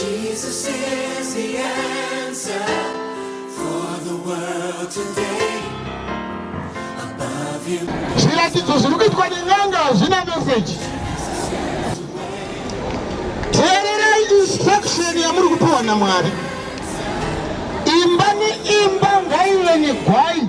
Jesus is the answer for the world today. Above you. Zviratidzo zviri kuitwa nen'anga hazvina meseji. Teererai instruction yamuri kupiwa naMwari. Imba neimba ngaive negwai.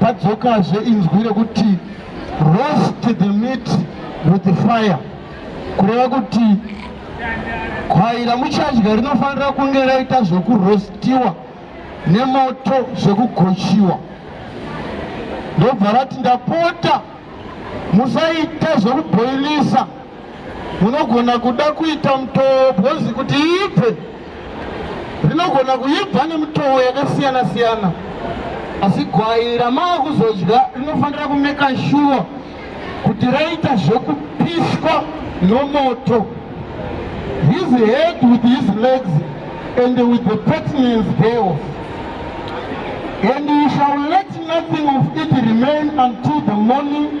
padzokazve inzwi rekuti roast the meat with the fire kureva kuti gwai ramuchadya rinofanira kunge raita zvekurostiwa nemoto zvekugochiwa ndobva rati ndapota musaita zvekubhoilisa munogona kuda kuita mutoo bhozi kuti ibve rinogona kuibva nemutoo yakasiyana siyana asi gwai ramaa kuzodya rinofanira kumeka shuwa kuti raita zvekupiswa nomoto his head with his legs and with the pertinence thereof and you shall let nothing of it remain until the morning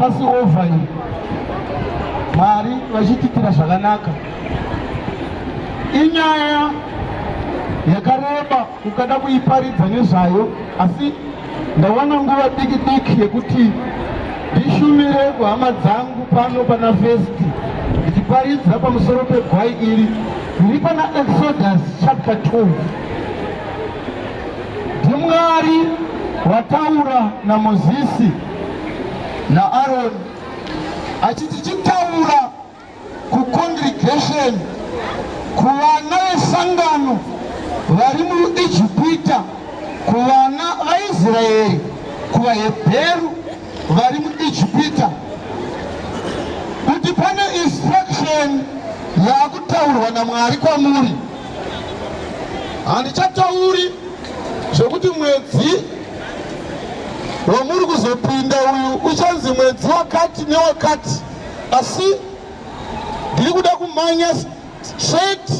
Pasi over iyi Mwari vachititira zvakanaka. Inyaya yakareba kukada kuiparidza nezvayo asi ndawana nguva diki diki yekuti ndishumire kuhama dzangu pano pana first ndichiparidza pamusoro pegwai iri riri pana exodus chapter 12 ndimwari wataura namozisi naAroni achiti chitaura kucongregation kuvana vesangano vari muIjipita kuvana vaIsraeri kuvaHebheru vari muIjipita kuti pane instruction yaakutaurwa naMwari kwamuri handichatauri zvekuti mwedzi wamuri kuzopinda uyu uchanzi mwedzi wakati newakati asi ndiri kuda kumhanya straight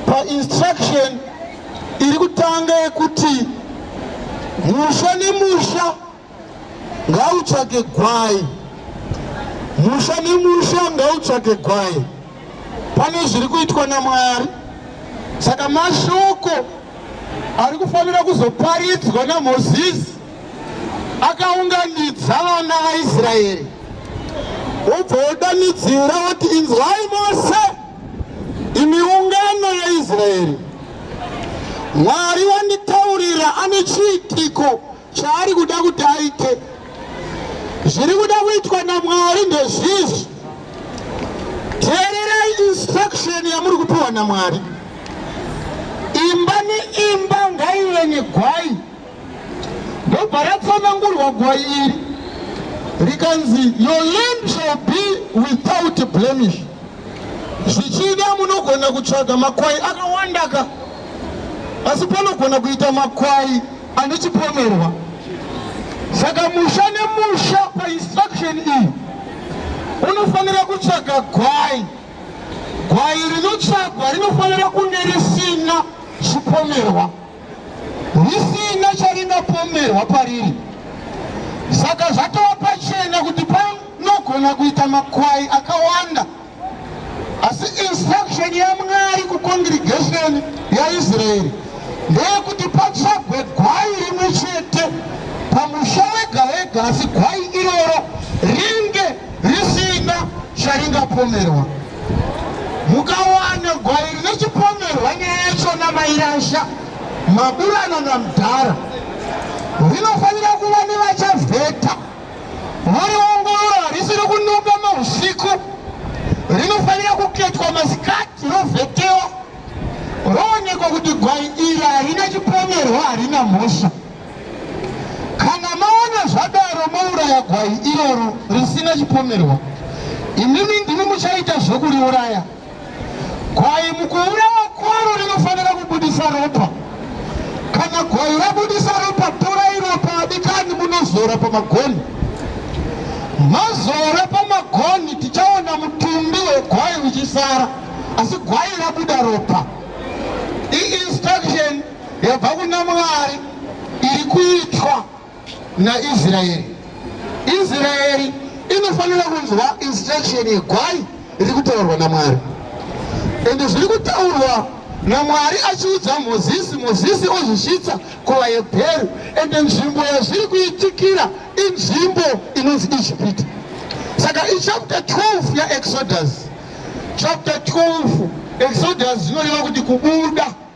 painstruction iri kutanga yekuti musha nemusha ngautsvake gwai musha nemusha ngautsvake gwai pane zviri kuitwa namwari saka mashoko ari kufanira kuzoparidzwa namozisi akaunganidza vana vaisraeri wobva wodanidzira woti inzwai mose imi ungano yaisraeri mwari wanditaurira ane chiitiko Chaari kuda kuti aite zviri kuda kuitwa naMwari ndezvizvi. Teererai instruction yamuri kupiwa naMwari. Imba neimba ngaive negwai, ndobva ratsanangurwa gwai iri rikanzi your land shall be without blemish. Zvichida munogona kutsvaga makwai akawandaka, asi panogona kuita makwai anochipomerwa saka musha nemusha painstruction iyi unofanira kutsvaga gwai gwai rinotsvagwa rinofanira kunge risina chipomerwa risina charingapomerwa pariri saka zvatova pachena kuti panogona kuita makwai akawanda asi instruction yamwari kucongregation yaisraeri ndeyekuti patsvagwe gwai rimwe chete pamusha wega wega asi gwai iroro ringe risina charingapomerwa mukawana gwai rine chipomerwa nyaya yacho namairasha maburana namdhara rinofanira kuva nevachavheta Muriongorora risiri kunuka mahusiku rinofanira kuketwa masikati rovhetewa roonekwa kuti gwai iri harina chipomerwa harina mhosva kana maona zvadaro mouraya gwai iroro risina chipomerwa imimi ndimi muchaita zvekuriuraya Gwai mukuurawa kwaro rinofanira kubudisa ropa. Kana gwai rabudisa ropa, torai ropa adikani munozora pamagoni. Mazora pamagoni tichaona mutumbi wegwai uchisara, asi gwai rabuda ropa. I-instruction yabva kuna Mwari iri kuitwa. naIsraeri. Israeri inofanira kunzwa instruction yegwai riri kutaurwa naMwari and zviri kutaurwa namwari achiudza mozisi mozisi ozvisvitsa kuvaebheru and nzvimbo yazviri kuitikira inzvimbo inonzi ijipiti saka ichapter 12 yaexodus chapter 12 exodus zvinoreva kuti kubuda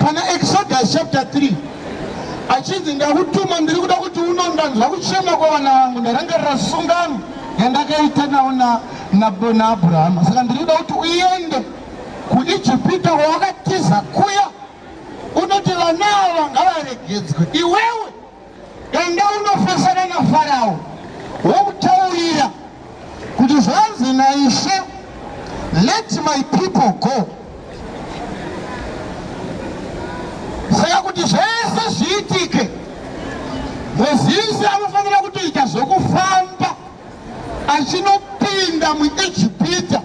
Pana Exodus chapter 3 achinzi ndakutuma ndiri kuda kuti unondanzwa kuchema kwavana vangu ndarangarira sungano yandakaita nawo naabhurahama saka ndiri kuda kuti uende kuijipita kwawakatiza kuya unoti vana ava ngavaregedzwe iwewe Enda unofesana naFarao womutaurira kuti zvanzi naIshe, let my people go. Saka kuti zvese zviitike, Mozisi anofanira kutoita zvokufamba achinopinda muIjipita.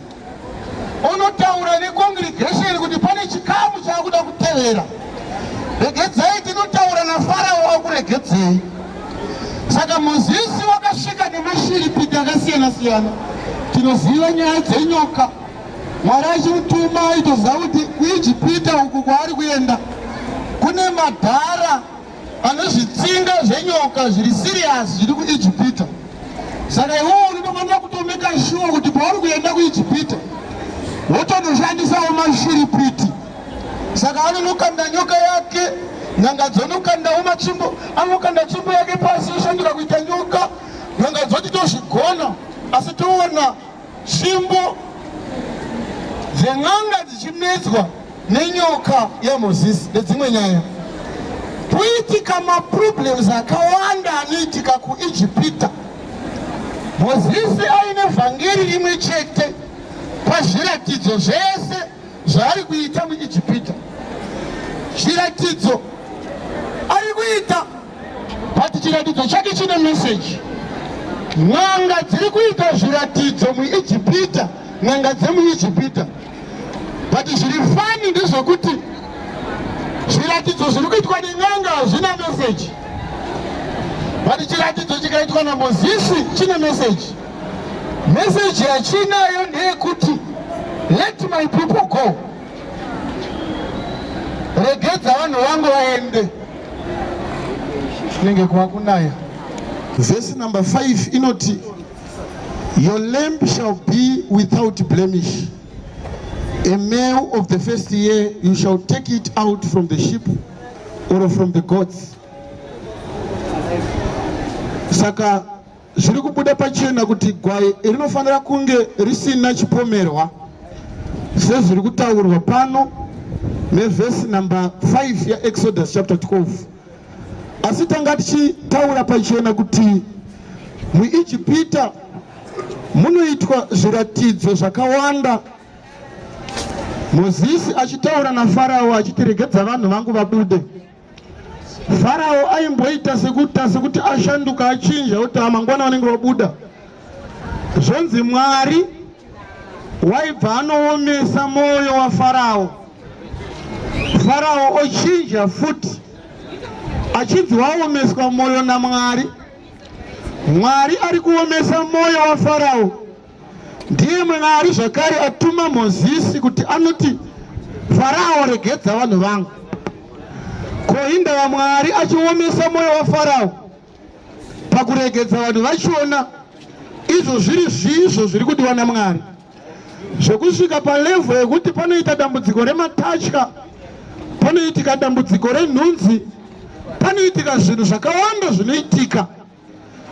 onotaura necongregation kuti pane chikamu chaakuda kutevera regedzai tinotaura nafarao wakuregedzei saka mozisi wakasvika nemashiripiti akasiyana siyana tinoziva nyaya dzenyoka mwari achimutuma aitoziva kuti kuijipita uku kwaari kuenda kune madhara Pane zvitsinga zvenyoka zviri serious zviri kuIjipita. Saka iwowo unotofanira kutomeka shuwa kuti pauri kuenda kuIjipita wotonoshandisawo mashiripiti. Saka anonokanda nyoka yake, nyanga dzonokandawo matsvimbo, anokanda tsvimbo yake pasi yoshanduka kuita nyoka. Nyanga dzoti tozvigona, asi toona tsvimbo dzen'anga dzichinetswa nenyoka yaMozisi nedzimwe nyaya. Kuitika maproblems akawanda anoitika kuIjipita. Mozisi aine vhangeri rimwe chete pazviratidzo zvese zvaari kuita muIjipita. Chiratidzo ari kuita but chiratidzo chake chine meseji. N'anga dziri kuita zviratidzo muIjipita, n'anga dzemuIjipita but zviri fani ndezvekuti zviratidzo zviri kuitwa nen'anga hazvina meseji but chiratidzo chikaitwa namozisi chine meseji meseji yachinayo ndeyekuti let my people go regedza vanhu vangu vaende kunenge kuva kunaya vhesi number 5 inoti Your lamb shall be without blemish. A male of the first year, you shall take it out from the sheep or from the goats. Saka zviri kubuda pachena kuti gwai rinofanira kunge risina chipomerwa sezviri kutaurwa pano nevhesi number 5 yaExodus chapter 12. asi tanga tichitaura pachena kuti muijipita munoitwa zviratidzo zvakawanda mozisi achitaura nafarao achiti regedza vanhu vangu vabude farao aimboita sekuta sekuti ashanduka achinja oti amangwana vanenge vabuda Zvonzi Mwari waibva anoomesa mwoyo waFarao, Farao ochinja futi achinzi waomeswa mwoyo naMwari. Mwari ari kuomesa mwoyo waFarao. Ndiye Mwari zvakare atuma Mozisi kuti anoti, Farao, regedza vanhu vangu. Ko hindava Mwari achiomesa mwoyo waFarao? pakuregedza vanhu vachiona izvo zviri zvizvo zviri kudiwa namwari zvekusvika palevho yekuti panoita dambudziko rematatya panoitika dambudziko renhunzi panoitika zvinhu zvakawanda zvinoitika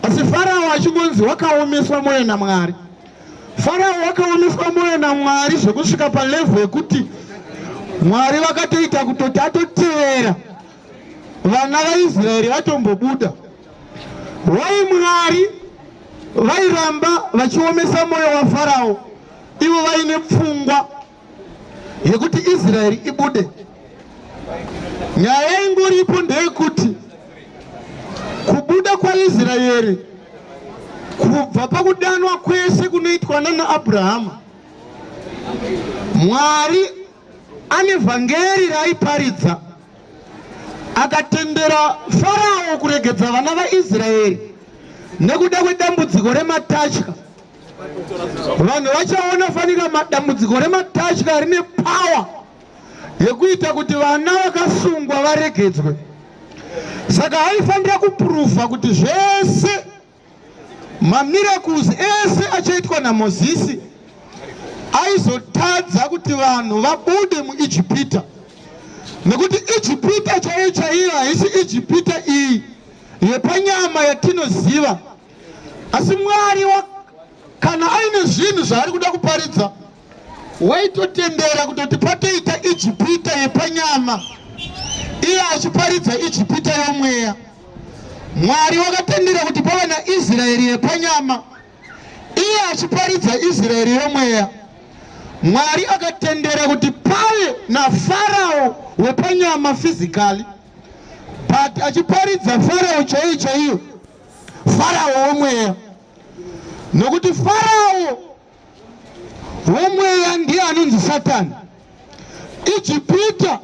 asi farao achingonzi wakaomeswa mwoyo namwari farao wakaomeswa mwoyo namwari zvekusvika palevho yekuti mwari vakatoita kutoti atotevera vana vaIsraeri vatombobuda. Why Mwari vairamba vachiomesa moyo waFarao ivo vaine pfungwa yekuti Israeri ibude? Nyaya ingoripo ndeyekuti kubuda kwaIsraeri kubva pakudanwa kwese kunoitwa nana Abrahama Mwari Ane vhangeri raaiparidza akatendera Farao kuregedza vana vaIsraeri nekuda kwedambudziko rematatya. Vanhu vachaona fanika dambudziko rematatya rine pawa yekuita kuti vana vakasungwa varegedzwe. Saka aifanira kupuruvha kuti zvese Mamiracles ese achaitwa naMozisi aizotadza kuti vanhu vabude muIjipita nekuti Ijipita chaiyo chaiyo haisi Ijipita iyi yepanyama yatinoziva asi Mwari kana aine zvinhu zvaari kuda kuparidza waitotendera kutoti patoita ijipita yepanyama iye achiparidza ijipita yomweya mwari wakatendera kuti pava naisraeri yepanyama iye achiparidza israeri yomweya mwari akatendera kuti pave nafarao wepanyama fizikali but achiparidza farao chaiyo chaiyo farao womweya nokuti farao womweya ndiye anonzi satani ijipita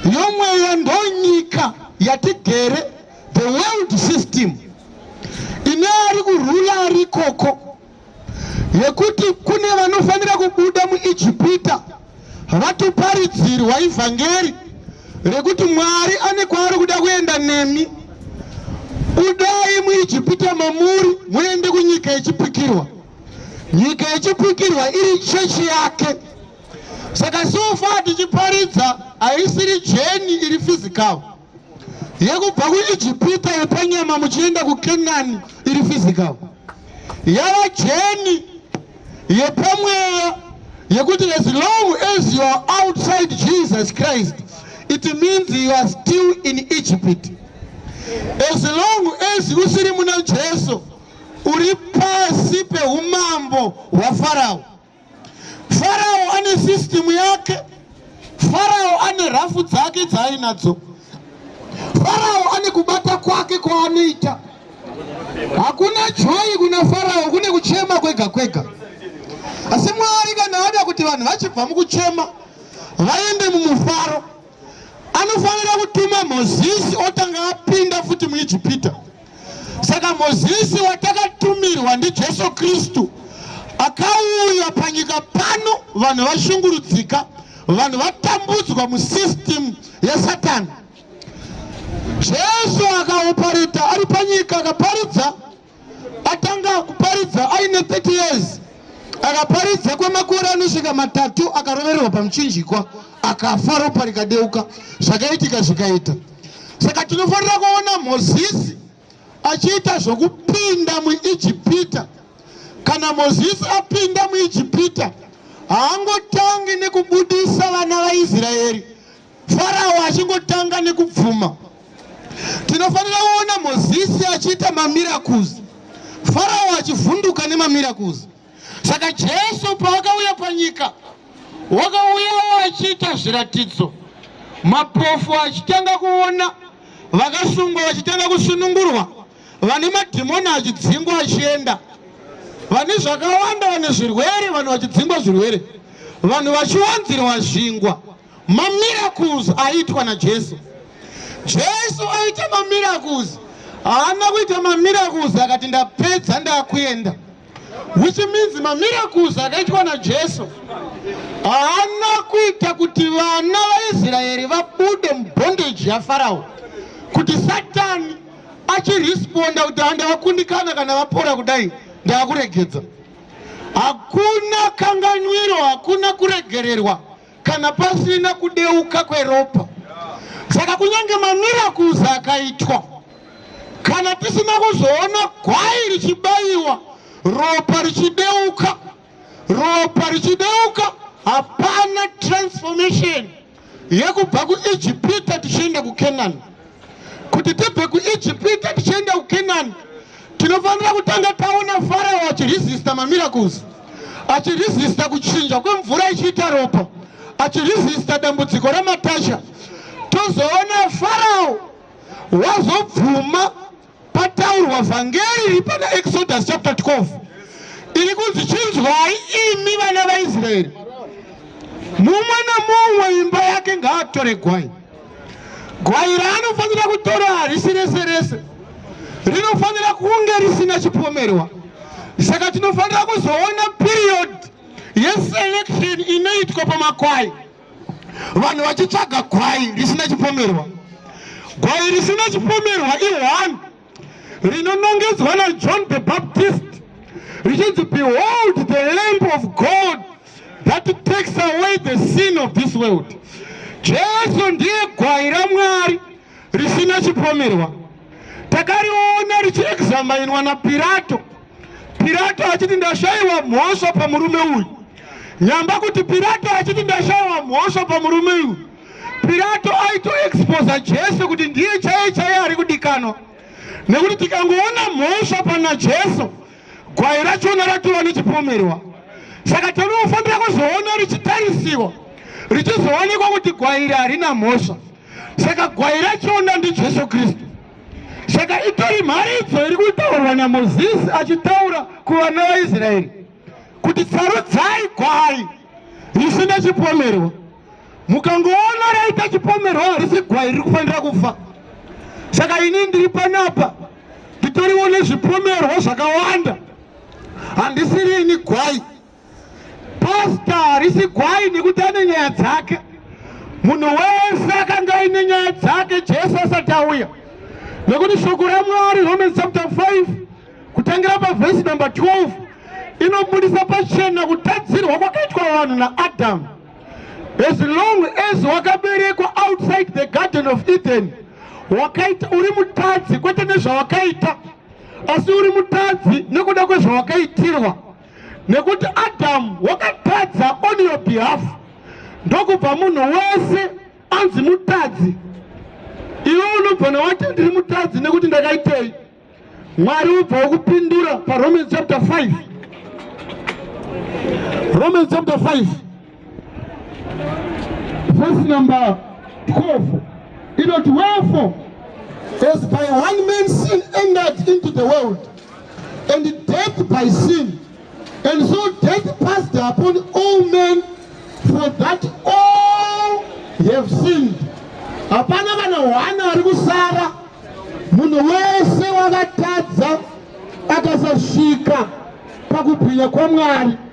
yomweya ndonyika yatigere the world system ine ari kurula ari ikoko yekuti kune vanofanira kubuda muijipita Havatoparidzirwa ivhangeri rekuti Mwari ane kwaari kuda kuenda nemi. Budai muIjipita mamuri muende kunyika yechipikirwa. Nyika yechipikirwa iri chechi yake. Saka sofa tichiparidza haisiri jeni iri fizikawo. yekubva kuijipita yepanyama muchienda kukenani iri physical yava jeni yepamweya yekuti as long as you are outside jesus christ it means you are still in egypt as long as usiri muna jesu uri pasi peumambo hwafarao Farao ane system yake. Farao ane rafu dzake dzaainadzo. Farao ane kubata kwake kwaanoita. Hakuna joyi kuna Farao, kune kuchema kwega kwega. Asi Mwari kana ada kuti vanhu vachibva mukuchema vaende mumufaro, anofanira kutuma Mozisi otanga apinda futi muIjipita. Saka Mozisi watakatumirwa ndiJesu Kristu akauya panyika pano, vanhu vashungurudzika, vanhu vatambudzwa musystem yasatani. Jesu akaoparita ari panyika, akaparidza, atanga kuparidza aine 30 years, akaparidza kwemakore anosvika matatu, akarovererwa pamuchinjikwa, akafa, ropa rikadeuka, zvakaitika zvikaita. saka tinofanira kuona mozisi achiita zvokupinda muijipita kana mozisi apinda muijipita haangotangi nekubudisa vana vaisraeri farao achingotanga nekubvuma tinofanira kuona mozisi achiita mamirakuzi farao achivhunduka nemamirakuzi Saka Jesu paakauya panyika wakauyawo achiita zviratidzo, mapofu achitanga kuona, vakasungwa vachitanga kusunungurwa, vane madhimoni achidzingwa achienda, vane zvakawanda, vane zvirwere, vanhu vachidzingwa zvirwere, vanhu vachiwanzirwa zvingwa, Mamiracles aitwa naJesu. Jesu aita mamiracles. Haana kuita mamiracles akati ndapedza ndakuenda. Which means mamiracles akaitwa naJesu haana kuita kuti vana vaIsraeri vabude mubondage yaFarao. Kuti Satani achiresponda kuti handavakundikana kana vapora kudai ndaakuregedza. Hakuna kanganwiro, hakuna kuregererwa. kana pasina kudeuka kweropa saka kunyange mamiracles akaitwa kana tisina kuzoona gwai richibayiwa ropa richideuka ropa richideuka hapana transformation yekubva kuijipita tichienda kucanani kuti tibve kuijipita tichienda kukenani tinofanira kutanga taona farao achiresista mamiracles achiresista kuchinja kwemvura ichiita ropa achiresista dambudziko ramatasha tozoona farao wazobvuma Pataurwa vhangeri riri pana Exodus chapter 12 iri kunzi chinzwai imi vana vaIsraeri, mumwe nomumwe imba yake ngaatore gwai. Gwai raanofanira kutora harisi rese rese, rinofanira kunge risina chipomerwa. Saka tinofanira kuzoona period yeselection inoitwa pamakwai. vanhu vachitsvaga gwai risina chipomerwa gwai risina chipomerwa i1 rinonongedzwa najohn the baptist richinzi behold the lamp of god that takes away the sin of this world jesu ndiye gwai ramwari risina chipomerwa takariona richiexamainwa napirato Pirato achiti ndashaiwa mhosva pamurume uyu. Nyamba kuti Pirato achiti ndashaiwa mhosva pamurume uyu. Pirato aito exposa Jesu kuti ndiye chaiye chaiye ari kudikanwa. Nekuti tikangoona mhosva pana Jesu, gwai rachona ratova nechipomerwa. Saka tinofanira kuzoona richitarisiwa, richizoonekwa kuti gwai iri harina mhosva. Saka gwai rachona ndiJesu Kristu. Saka itori mharidzo iri kutaurwa naMozisi achitaura kuvana vaIsraeri kuti sarudzai gwai risina chipomerwa. Mukangoona raita chipomerwa harisi gwai riri kufanira kufa. Saka ini ndiri panapa nditoriwo nezvipomerwa zvakawanda, handisiri ini gwai. Pasta harisi gwai nekuti ane nyaya dzake. Munhu wese akanga aine nyaya dzake Jesu asati auya, nekuti shoko raMwari Romans chapter 5 kutangira pavhesi number 12 inobudisa pachena kutadzirwa kwakaitwa vanhu naAdhamu. As long as wakaberekwa outside the garden of Eden, wakaita uri mutadzi kwete nezvawakaita, asi uri mutadzi nekuda kwezvawakaitirwa. nekuti Adamu wakatadza on your behalf ndokubva munhu wese anzi mutadzi iwe unobvana wati ndiri mutadzi nekuti ndakaitei mwari ubva wokupindura paromans chapter 5 romans chapter 5 Verse number 12 inoti wherefore as by one man sin entered into the world and death by sin and so death passed upon all men for that all have sinned hapana kana hwana ari kusara munhu wese wakatadza akasasvika pakubwinya kwamwari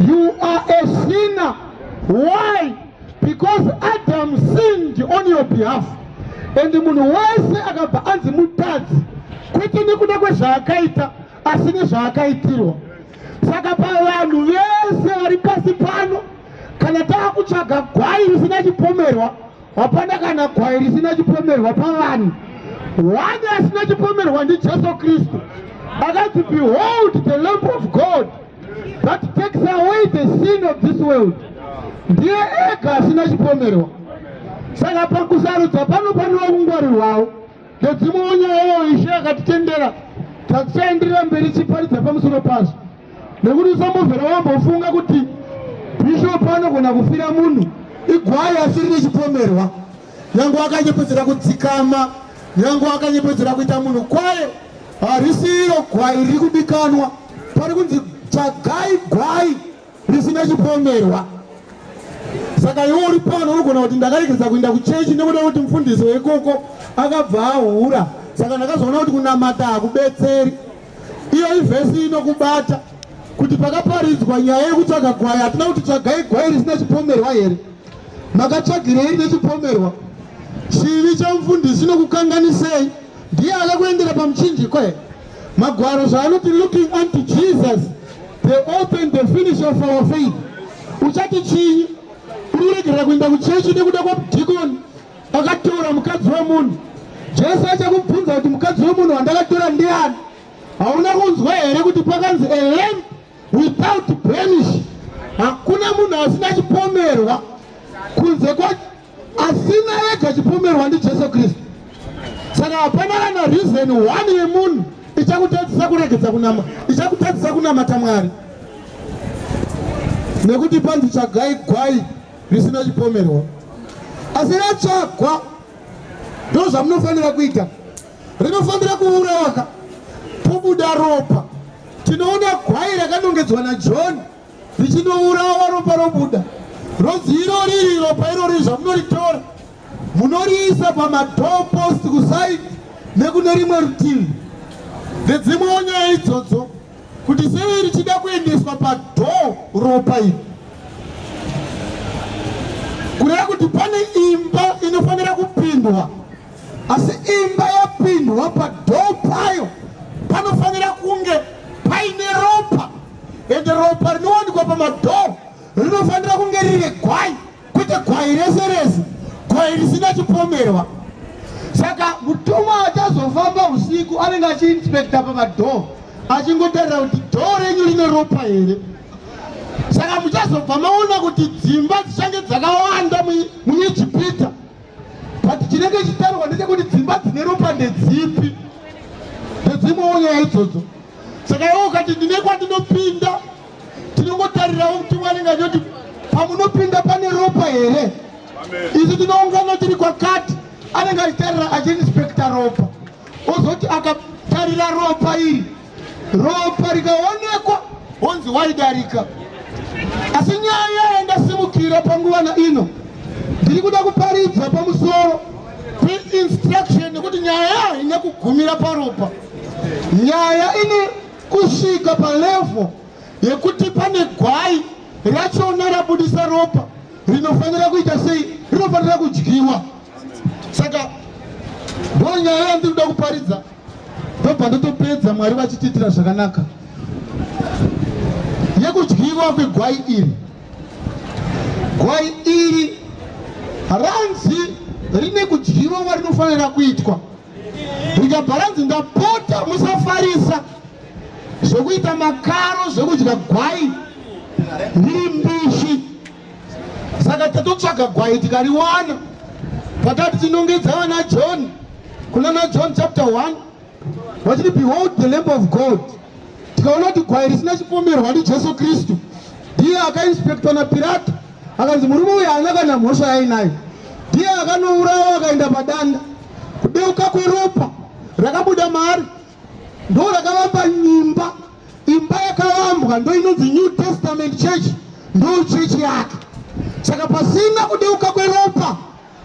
You are a sinner. Why? Because Adam sinned on your behalf. And munhu wese akabva anzi mutadzi kwete nekuda kwezvaakaita asi nezvaakaitirwa. Saka pavanhu vese vari pasi pano kana tava kutsvaga gwai risina chipomerwa hapana kana gwai risina chipomerwa pavanhu one asina chipomerwa ndijesu kristu akati behold the lamp of god that takes away the sin of this world ndiye ega asina chipomerwa saka pakusarudza pano panowa kungwarirwawo ndedzimwewo nyaya yawo ishe akatitendera tatichaenderera mberi chiparidza pamusoro pazvo nekuti usambovhera wambofunga kuti bhishopu anogona kufira munhu igwai asiri nechipomerwa nyange wakanyepedzera kudzikama nyange wakanyepedzera kuita munhu kwaye harisi iro gwai riri kudikanwa pari kunzi tsvagai gwai risina chipomerwa saka iwe uri pano unogona kuti ndakaregedza kuenda kuchechi nekuda kuti mufundisi weikoko akabva ahura saka ndakazoona kuti kunamata hakubetseri Iyo ivhesi inokubata kuti pakaparidzwa nyaya yekutsvaga gwai hatina kuti tsvagai gwai risina chipomerwa here makatsvagirei nechipomerwa chivi chamufundisi nokukanganisei ndiye akakuendera pamuchinjiko here magwaro zvaanoti looking unto jesus the open the finish of our faith uchati chinyi uri kuregerera kuenda kuchechi nekuda kwamudhikoni Akatora mukadzi wemunhu. Jesu achakubvunza kuti mukadzi wemunhu wandakatora ndiani? Hauna kunzwa here kuti pakanzi a lamb without blemish? Hakuna munhu asina chipomerwa kunze kwa asina ega chipomerwa ndiJesu Kristu. Saka hapana kana reason one yemunhu ichakutadzisa kuregedza kunama ichakutadzisa kunamata Mwari nekuti panzi tsvagai gwai risina chipomerwa asi ratsvagwa ndo zvamunofanira kuita rinofanira kuuraka pobuda ropa tinoona gwai rakanongedzwa najohn richinourawa ropa robuda rozi iro riri ropa irori zvamunoritora munoriisa pamador post kusaidi nekune rimwe rutivi ndedzimwewo nyaya idzodzo kuti sei richida kuendeswa padhoo ropa iri kureva kuti pane imba inofanira kupindwa asi imba yapindwa padhoo payo panofanira kunge paine ropa ende ropa rinowanikwa pamadhoo rinofanira kunge riri gwai Kwete gwai rese rese, gwai risina chipomerwa. Saka mutumwa achazofamba usiku anenge achiinspekta pamadhoo achingotarira kuti dhoo renyu rine ropa here. Saka muchazobva maona kuti dzimba dzichange dzakawanda muIjipita, but chinenge chitarirwa ndechekuti dzimba dzine ropa ndedzipi, ndedzimwewo nyaya idzodzo. Saka iwo ukati ndine kwandinopinda Tinongotarirawo kuti Mwari nganyoti pamunopinda pane ropa here? Isu tinoungana tiri kwakati anenge achitarira achiinspekta ropa ozoti akatarira ropa iri ropa rikaonekwa honzi waidarika asi nyaya yandasimukira panguva na ino ndiri kuda kuparidza pamusoro peinstruction nekuti nyaya haina kugumira paropa nyaya ine kusvika palevo yekuti pane gwai rachona rabudisa ropa rinofanira kuita sei rinofanira kudyiwa saka ndo nyaya yandiri kuda kuparidza ndobva ndotopedza mwari vachitiitira zvakanaka yekudyiwa kwegwai iri gwai iri ranzi rine kudyiwa kwarinofanira kuitwa ndikabharanzi ndapota musafarisa zvekuita makaro zvekudya gwai ndiri mbishi saka tatotsvaga gwai tikariwana patati tinongedza vana john kunana john chapter 1 vachiti behold the lamp of god tikaona kuti gwai risina chipomerwa ndijesu kristu ndiye akainspektwa napirato akanzi murume uyu haana kana mhosva yainayo ndiye akanourawa akaenda padanda kudeuka kweropa rakabuda maari ndo rakavamba nyimba imba yakavambwa ndo inonzi new testament church ndo chechi yake saka pasina kudeuka kweropa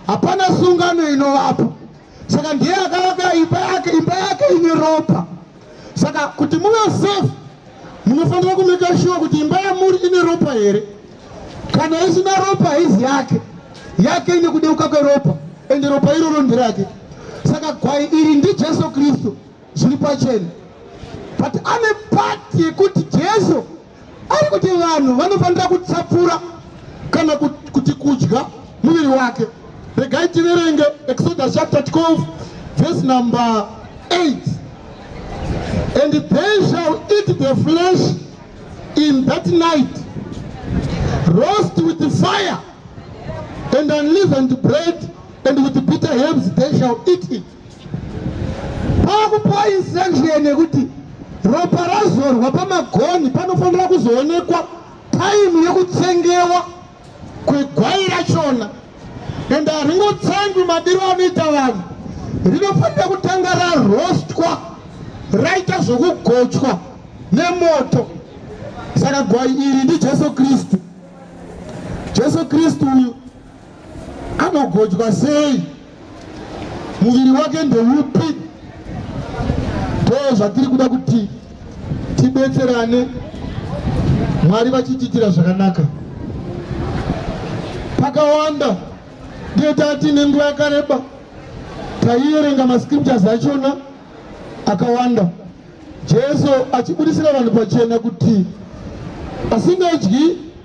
hapana sungano inovapo saka ndiye akavaka imba yake imba yake ine ropa saka kuti muve safe munofanira kumeka shuwa kuti imba yamuri ine ropa here kana isina ropa haizi yake yake ine kudeuka kweropa ende ropa iroro ndirake saka gwai iri ndijesu kristu zviri pachena but ane pati yekuti jesu ari kuti vanhu vanofanira kutsapfura kana kuti kudya muviri wake regai tiverenge exodus chapter 12 vhesi number 8 and they shall eat the flesh in that night, roast with the fire, and unleavened bread, and with bitter herbs they shall eat it. Pakupa instruction yekuti ropa razorwa pamagoni panofanira kuzoonekwa time yekutsengewa kwegwai rachona ende haringotsangwi madiro anoita vanhu rinofanira kutanga rarostwa raita zvokugochwa nemoto saka gwai iri ndijesu kristu jesu kristu uyu anogochwa sei muviri wake ndeupi ndoo zvatiri kuda kuti tibetserane mwari vachitiitira zvakanaka pakawanda ndiye tati nenguva yakareba taiyerenga mascriptures achona akawanda jesu achibudisira vanhu pachena kuti asingadyi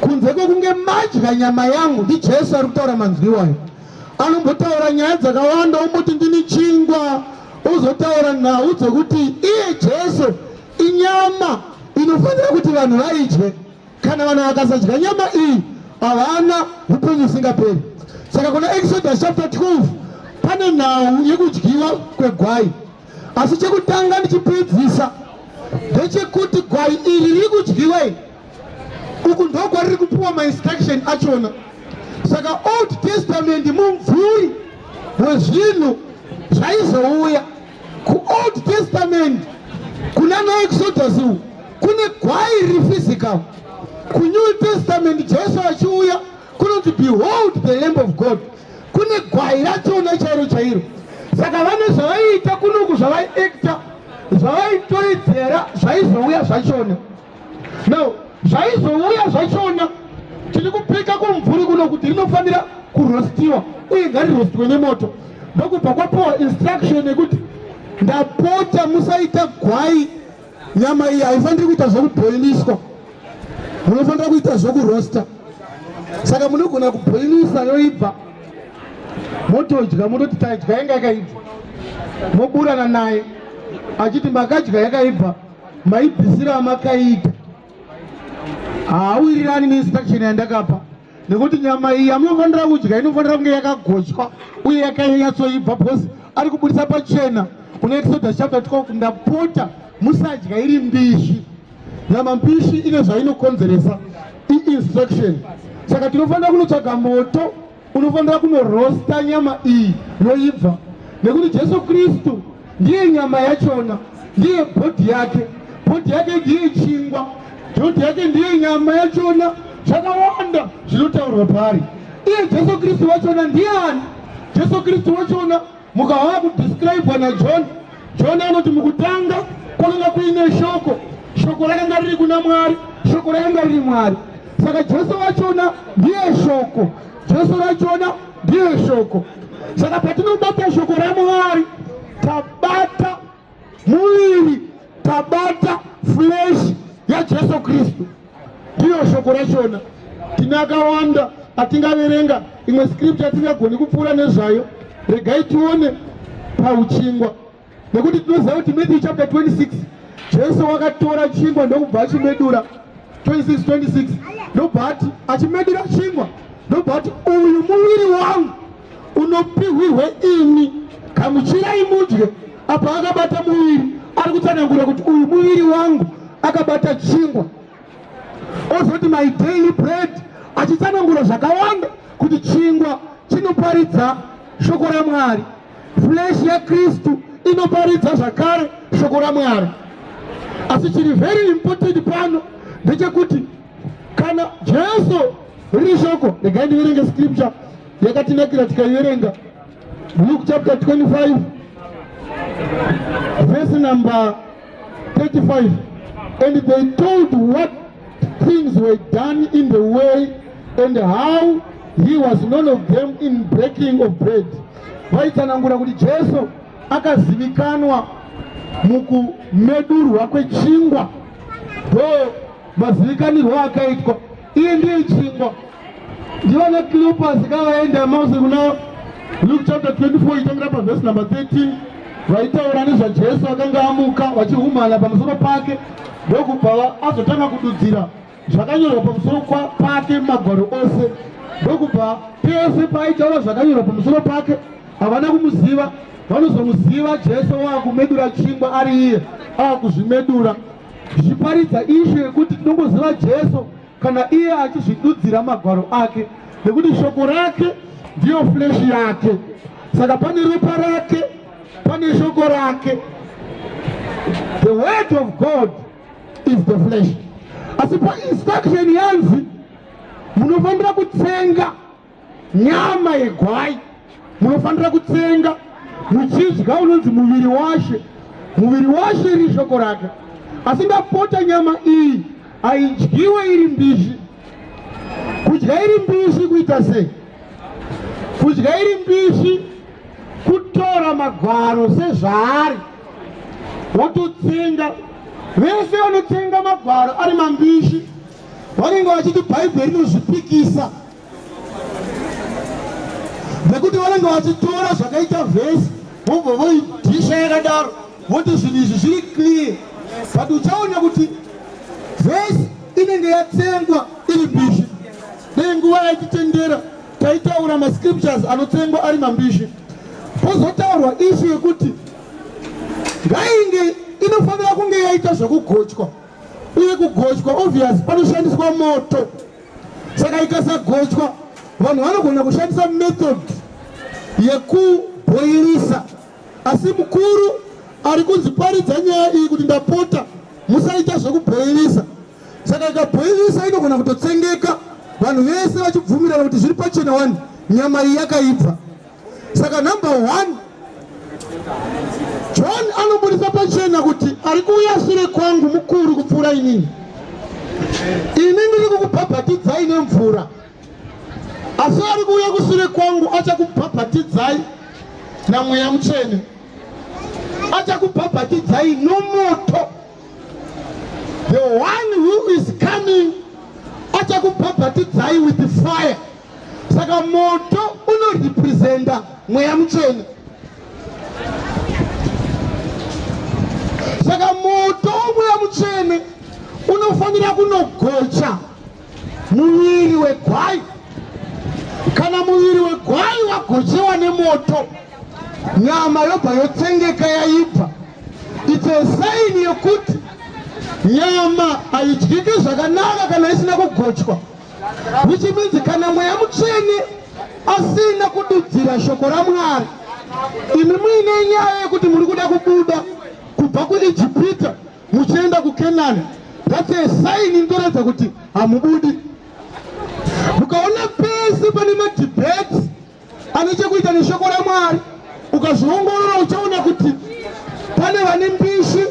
kunze kwekunge madya nyama yangu ndijesu ari kutaura manzwi iwayo anombotaura nyaya dzakawanda omboti ndini chingwa ozotaura nhau dzekuti iye jesu inyama inofanira kuti vanhu vaidye kana vanhu vakasadya nyama iyi havana upenyu usingaperi saka kuna exodus chapter 12 pane nhau yekudyiwa kwegwai asi chekutanga ndichipedzisa ndechekuti gwai iri riri kudyiwa iri uku ndokwariri kupiwa mainstruction achona saka old testament mumvuri wezvinhu zvaizouya kuold testament kuna naexodus uku kune gwai riri physical kunew testament jesu achiuya kunonzi behold the lamb of god kune gwai rachona chairo chairo saka vane zvavaiita kunoku zvavaiekta zvavaitoedzera zvaizouya zvachona now zvaizouya zvachona tiri kupika kumvuri kuno kuti rinofanira kurostiwa uye ngarirostwe nemoto ndokubva kwapiwa instruction yekuti ndapota musaita gwai nyama iyi haifaniri kuita zvekubhoiliswa munofanira kuita zvekurosta saka munogona kubhoilisa yoibva motodya mototi taidya yanga yakaibva moburana naye achiti makadya yakaibva maibvisiro amakaita haawirirani neinstruction yandakapa nekuti nyama iyi yamunofanira kudya inofanira kunge yakagochwa uye yakanyatsoibva bcause ari kubudisa pachena kuna exodus chapter 12 ndapota musadya iri mbishi nyama mbishi ine zvainokonzeresa iinstruction saka tinofanira kunotsvaga moto Unofanira kunorosta nyama iyi yoibva, nekuti Jesu Kristu ndiye nyama yachona, ndiye bhodhi yake. Bhodhi yake ndiye chingwa, bhodhi yake ndiye nyama yachona. Zvakawanda zvinotaurwa paari. Iye Jesu Kristu wachona ndiani? Jesu Kristu wachona Mukava kudescribwa naJohn, John anoti mukutanga kwakanga kuine shoko, shoko rakanga riri kuna Mwari, shoko rakanga riri Mwari. Saka Jesu vachona ndiye shoko, Jesu vachona ndiye shoko. Saka patinobata shoko raMwari tabata Muviri tabata flesh yaJesu Kristu, ndiyo shoko rachona. Tine akawanda atingaverenga, imwe scripture atingagoni kupfuura nezvayo. Regai tione pauchingwa, nekuti tinoziva kuti Matthew chapter 26 Jesu wakatora chingwa ndokubva achimedura 26 26 ndobva ati achimedura chingwa ndobva ati uyu muviri wangu unopihwirwa ini gamuchirai mudye apo akabata muviri ari kutsanangura kuti uyu muviri wangu akabata chingwa ozoti my daily bread achitsanangura zvakawanda kuti chingwa chinoparidza shoko ramwari flesh yakristu inoparidza zvakare shoko ramwari asi chiri very important pano ndechekuti kana jesu riri shoko regai ndiverenge scripture yakatinakira tikaiverenga luke chapter 25 verse number 35 and they told what things were done in the way and how he was none of them in breaking of bread vaitsanangura kuti jesu akazivikanwa mukumedurwa kwechingwa ndo mazivikanirwo akaitwa Iyi ndiyo chingwa. Ndiona Cleopas kavaenda Mose kuna Luke chapter 24 itangira pa verse number 13 vaitaura nezvaJesu akanga amuka vachihumana pamusoro pake ndokubva azotanga kududzira zvakanyorwa pamusoro pake magwaro ose ndokubva pese paaitaura zvakanyorwa pamusoro pake havana kumuziva vanozomuziva Jesu waakumedura chingwa ari iye aakuzvimedura tichiparidza ishu yekuti tinongoziva Jesu kana iye achizvidudzira magwaro ake nekuti shoko rake ndiyo fleshi yake saka pane ropa rake pane shoko rake the word of god is the flesh asi painstruction yanzi munofanira kutsenga nyama yegwai munofanira kutsenga muchidya unonzi muviri washe muviri washe iri shoko rake asi ndapota nyama iyi haidyiwe iri mbishi kudya iri mbishi kuita sei kudya iri mbishi kutora magwaro sezvaari wototsenga vese vanotsenga magwaro ari mambishi vanenge vachiti bhaibheri rinozvipikisa nekuti vanenge vachitora zvakaita vhesi vobva voidhisha yakadaro voti zvinhu izvi zviri clear but uchaona kuti vhesi inenge yatsengwa iri mbishi nei nguva yaititendera taitaura mascriptures anotsengwa ari mambishi pozotaurwa ishu yekuti ngainge inofanira kunge yaita zvekugochwa uye kugochwa obvious panoshandiswa moto saka ikasagochwa vanhu vanogona kushandisa method yekubhoirisa asi mukuru ari kunzi paridza nyaya iyi kuti ndapota musaita zvekubhoirisa saka ikabhoirisa inogona kutotsengeka vanhu vese vachibvumirana kuti zviri pachena wani nyama iyi yakaibva saka number one john anobudisa pachena kuti ari kuuya sure kwangu mukuru kupfuura inini ini ndiri kukubhabhatidzai nemvura asi ari kuuya kusure kwangu achakubhabhatidzai namweya mutsvene achakubhabhatidzai nomoto the one who is coming achakubhabhatidzai with fire saka moto unorepresenta mweya mutsvene saka moto womweya mutsvene unofanira kunogocha muviri wegwai kana muviri wegwai wagochewa nemoto nyama yobva yotsengeka yaibva its a sign yekuti nyama haidyike zvakanaka kana isina kugochwa which means kana mweya mutsvene asina kududzira shoko ramwari imi muine nyaya yekuti muri kuda kubuda kubva kuijipita muchienda kukenani that's a sign inotoratidza kuti hamubudi mukaona pese pane madebate ane chekuita neshoko ramwari ukazviongorora uchaona kuti pane vane mbishi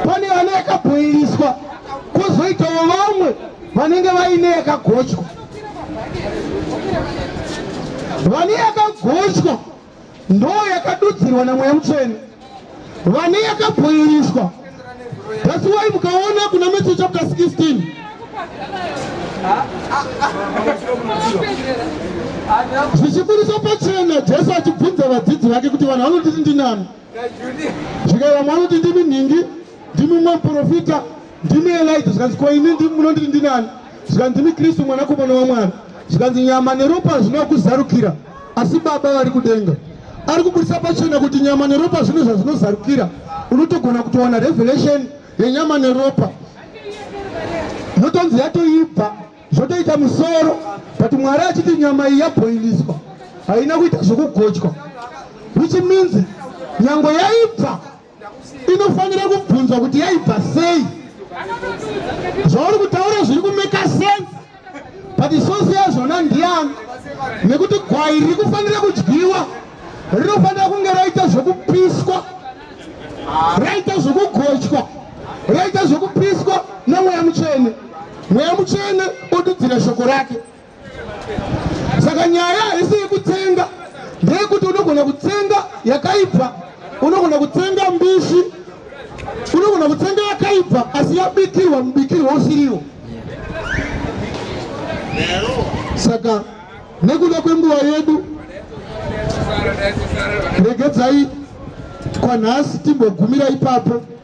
pane vane yakabhoiliswa kozoitawo vamwe vanenge vaine yakagochwa vane yakagochwa ndo yakadudzirwa namweya mutsvene vane yakabhoiliswa that's why mukaona kuna matthew chapter 16 zvichiburiswa pachena jesu achibvunza vadzidzi vake kuti vanhu vanotiti ndinani zvikai vamwe vanoti ndimi nhingi ndimi mumwe muprofita ndimi elija zvikanzi ko ini munonditi ndinani zvikanzi ndimi kristu mwanakomana wamwana zvikanzi nyama neropa hazvina kuzarukira asi baba vari kudenga ari kuburitsa pachena kuti nyama neropa zvine zvazvinozarukira unotogona kutowana revelation yenyama neropa yotonzi yatoibva zvotoita musoro but mwari achiti nyama iyi yabhoiliswa haina kuita zvokugochwa which means nyango yaibva inofanira kubvunzwa kuti yaibva sei zvauri kutaura zviri kumeka sense but sosi yazvona ndiyani nekuti gwai riri kufanira kudyiwa rinofanira kunge raita zvekupiswa raita zvekugochwa raita zvekupiswa nemweya mutsvene mweya mutsvene odudzira shoko rake saka nyaya haisi yekutsenga ndeyekuti unogona kutsenga yakaibva unogona kutsenga mbishi unogona kutsenga yakaibva asi yabikirwa mubikirwa usiriwo saka nekuda kwenguva yedu regedzai kwanhasi timbogumira ipapo